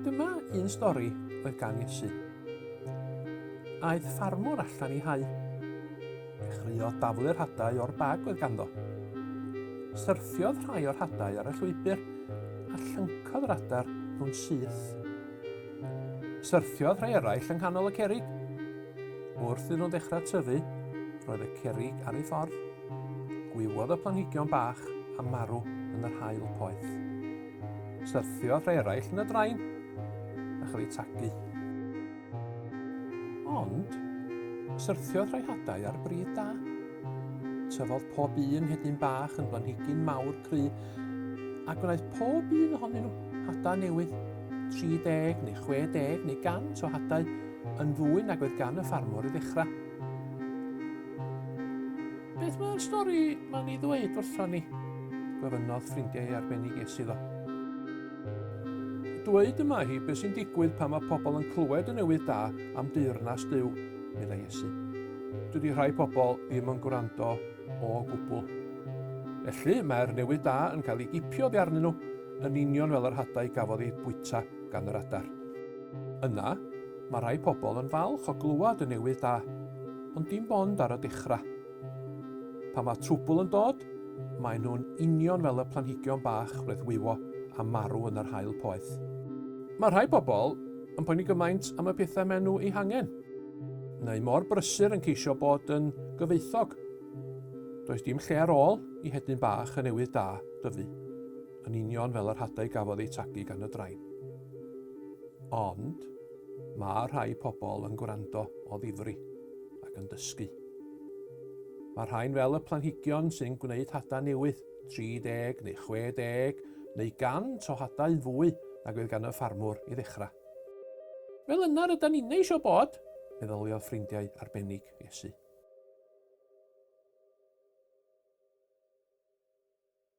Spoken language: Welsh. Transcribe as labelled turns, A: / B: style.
A: Dyma un stori oedd gan Iesu. Aeth ffarmwr allan i hau. Dechreuodd daflu'r hadau o'r bag oedd ganddo. Syrthiodd rhai o'r hadau ar y llwybr a llyncodd yr adar nhw'n syth. Syrthiodd rhai eraill yng nghanol y cerig Wrth iddyn nhw ddechrau tyfu, roedd y cerrig ar ei ffordd, gwywodd y planhigion bach a marw yn yr haul poeth. Syrthiodd rhai eraill yn y drain a chael eu tagu. Ond, syrthiodd rhai hadau ar bryd da. Tyfodd pob un hedyn bach yn blanhigyn mawr cry a gwnaeth pob un ohonyn nhw hadau newydd. 30 neu 60 neu 100 o hadau Yn fwy nag oedd gan y ffarmwr i ddechrau. Beth mae'r stori ma'n ei ddweud wrthon ni? gofynnodd ffrindiau ei arbennig es iddo. Dweud y mae hi beth sy'n digwydd pan mae pobl yn clywed y newydd da am deyrnas Duw, meddai Iesu. Dydy rhai pobl ddim yn gwrando o gwbl. Felly mae'r newydd da yn cael ei gipio oddi arnyn nhw, yn union fel yr hadau gafodd eu bwyta gan yr adar. Yna, mae rhai pobl yn falch o glywed y newydd da, ond dim ond ar y dechrau. Pan mae trwbl yn dod, maen nhw'n union fel y planhigion bach reddwywo a marw yn yr haul poeth. Mae rhai pobl yn poeni gymaint am y pethau maen nhw eu hangen, neu mor brysur yn ceisio bod yn gyfoethog. Does dim lle ar ôl i hedyn bach y newydd da dyfu. yn union fel yr hadau gafodd eu tagu gan y drain. Ond, mae rhai pobl yn gwrando o ddifri ac yn dysgu. Mae rhain fel y planhigion sy'n gwneud hadau newydd, 30 neu 60 neu 100 o hadau fwy nag oedd gan y ffarmwr i ddechrau. Fel yna rydan ni'n eisiau bod, meddyliodd ffrindiau arbennig Iesu.